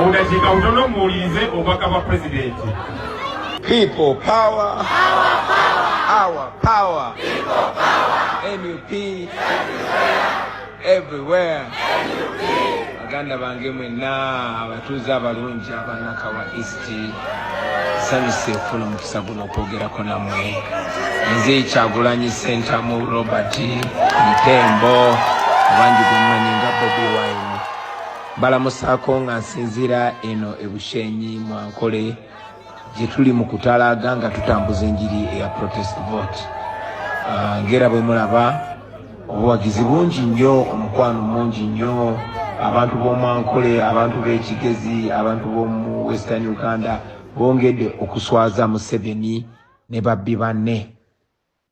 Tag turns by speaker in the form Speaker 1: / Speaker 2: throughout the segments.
Speaker 1: Obudakiika butono muwulirize obubaka bwa pulezidenti. People
Speaker 2: power. Our power. Our power. People power. NUP. Everywhere. NUP. Baganda bange mwenna abatuuze abalungi abanakawa East sanyuse ofuna omukisa guno okwogerako namwe nze kyagulanyi sentamu robert ntembo abangi gwemumanyi nga bobi wine Mbalamusaako nga nsinziira eno e Bushenyi mu Ankole gye tuli mu kutalaaga nga tutambuza enjiri eya protest vote ah, ng'era bwe mulaba obuwagizi bungi nnyo omukwano mungi nnyo abantu b'omu Ankole abantu b'ekigezi abantu b'omu Western Uganda bongedde okuswaza Museveni ne babbi banne.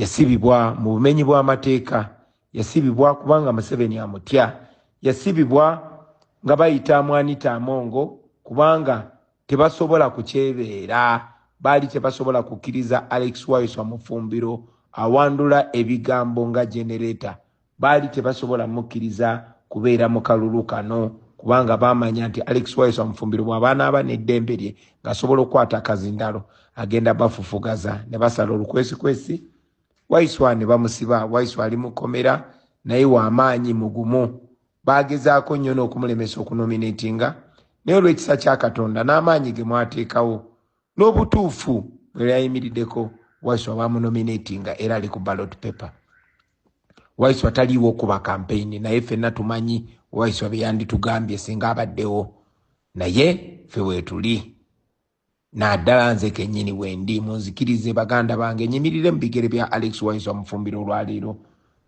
Speaker 2: Yasibibwa mu bumenyi bw'amateeka. Yasibibwa kubanga Museveni amutya. Yasibibwa nga bayita Amwanita Amongo kubanga tebasobola kukyebeera. Baali tebasobola kukkiriza Alex Waiswa Mufumbiro awandula ebigambo nga generator Baali tebasobola mukkiriza kubeera mu kalulu kano kubanga baamanya nti Alex Wayesu Amufumbiro bw'aba anaaba n'eddembe lye ng'asobola okukwata akazindalo agenda bafufugaza ne basala olukwesikwesi Waiswa ne bamusiba. Waiswa ali mu kkomera naye wa maanyi, mugumu. Baagezaako nnyo n'okumulemesa okunomineetinga naye olw'ekisa kya Katonda n'amaanyi ge mwateekawo n'obutuufu bwe yayimirideko Waiswa baamunomineetinga era ali ku ballot paper. waiswa taliiwo okuba kampeyini naye fenna tumanyi waiswa byeyanditugambye singa abaddewo naye fe weetuli naddala nze kenyini wendi munzikirize baganda bange nyimirire mu bigere bya alex waiswa mufumbiro olwaleero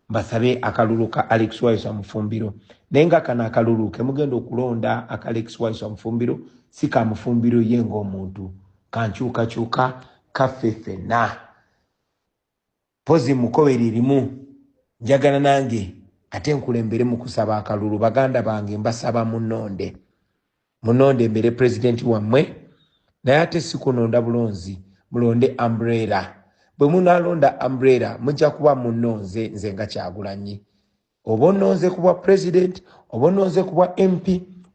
Speaker 2: mbasabe akalulu ka alex waiswa mufumbiro naye nga kano akalulu kemugenda okulonda aka alex waiswa mufumbiro si ka mufumbiro ye ngaomuntu kankyukakyuka kaffe fenna Mpozi mukowere erimu njagala nange ate nkulembere mu kusaba akalulu baganda bange mbasaba munonde munonde mbere president wammwe naye ate sikunonda bulonzi mulonde umbrella bwe munalonda umbrella mujja kuba munonze nze nga kyagulanyi oba ononze kubwa president oba ononze kubwa mp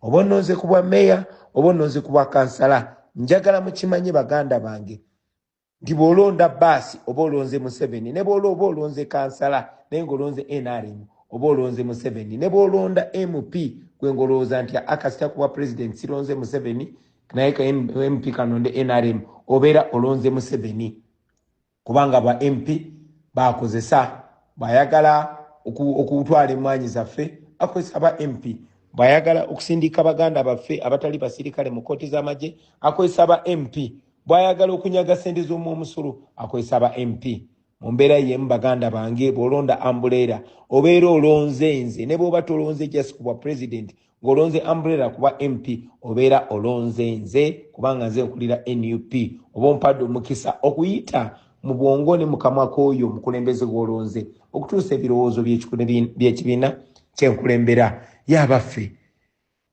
Speaker 2: oba ononze kubwa mayor oba ononze kubwa kansala njagala mukimanye baganda bange nti bw'olonda baasi oba olonze museveni ne bw'ola oba olonze kansala naye ng'olonze nrm oba olonze museveni ne bw'olonda mp gwe ng'olowooza nti akasita kuba pulezidenti sironze museveni naye ka mp kanonde nrm obeera olonze museveni kubanga ba mp bakozesa bayagala okutwala emmwanyi zaffe akozesa ba mp bwayagala okusindika baganda baffe abatali basirikale mu kooti z'amagye akozesa ba mp bwayagala okunyaga sente z'omu omusolo akozesa aba mp mu mbeera yemu baganda bange bw'olonda ambuleera obeera olonze nze ne bw'oba tolonze just ku bwa president ng'olonze ambuleera kuba mp obeera olonze nze kubanga nze nkulira nup oba ompadde omukisa okuyita mu bwongo ne mukamwa k'oyo omukulembeze gw'olonze okutuusa ebirowoozo by'ekibiina kyenkulembera y'abaffe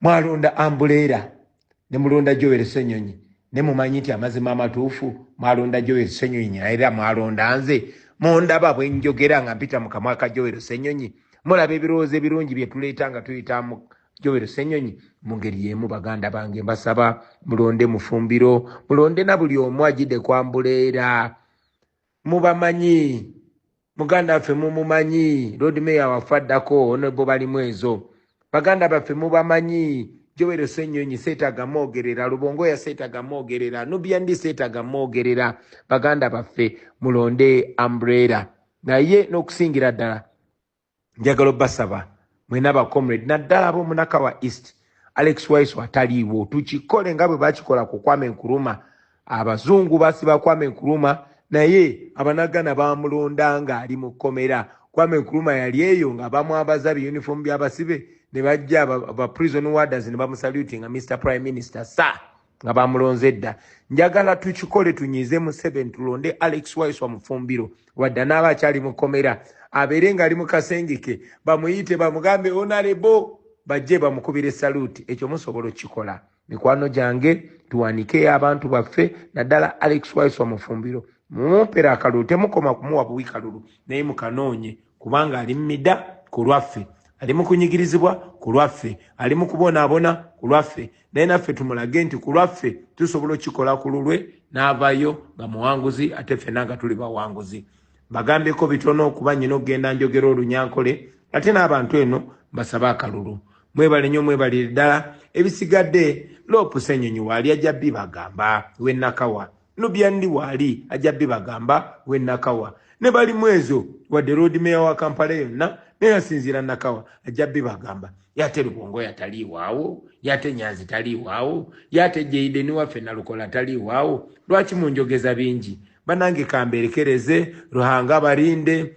Speaker 2: Mwalonda Ambuleera ne mulonda Joel Ssenyonyi ne mumanyi nti amazima amatuufu mwalonda Joel Ssenyonyi era mwalonda nze mundaba bwe njogera nga mpita mu kamwa ka Joel Ssenyonyi mulaba ebirowoozo ebirungi bye tuleeta nga tuyita mu Joel Ssenyonyi mu ngeri y'emu baganda bange mbasaba mulonde Mufumbiro mulonde na buli omu ajjidde ku Ambuleera Mubamanyi. Muganda waffe mumumanyi. Lord Mayor waffe addako Honorable Balimwezo. Baganda baffe mubamanyi. Joel Ssenyonyi setaga mogerera. Lubongoya setaga mogerera. Nubian Li setaga mogerera. Baganda baffe mulonde umbrella. Naye nokusingira ddala. njagala obasaba mwena ba comrade naddala abomunakawa east alex waiso ataliiwo tukikole nga bwe bakikola ku kwame nkuruma abazungu basiba kwame nkuruma naye abanagana bamulonda nga ali mu kkomera kwame nkuruma yali eyo nga bamwabaza biyunifoomu byabasibe ne bajja ba prison warders ne bamusaluti nga mr prime minister sa nga
Speaker 3: bamulonze edda njagala tukikole tunyize museveni tulonde alex waiswa mufumbiro wadde anaaba akyali mukomera abeere ngaali mukasengeke bamuyite bamugambe onalebo bajje bamukubire saluti ekyo musobola okukikola mikwano gyange tuwanikeyo abantu baffe naddala alex waiswa mufumbiro mumumpera akalulu temukoma kumuwa buwi kalulu naye mukanoonye kubanga ali mumida ku lwaffe ali mukunyigirizibwa ku lwaffe ali mukubonaabona ku lwaffe naye naffe tumulage nti ku lwaffe tusobola okikola ku lulwe n'avayo nga muwanguzi ate ffena nga tuli bawanguzi bagambyeko bitono okuba nyina okugenda njogera olunyankole ate n'abantu eno mbasabe akalulu mwebale nyo mwebalire ddala ebisigadde loopusa enyonyi waali ajja bibagamba wenakawa no byandi wali ajja bibagamba we nakawa ne bali mwezo wa the road mayor wa Kampala yonna ne yasinzira nakawa ajja bibagamba yate lubongo yatali wawo yate nyanzi tali wawo yate jeide ni wafe nalukola tali wawo lwaki munjogeza bingi banange kamberekereze ruhanga barinde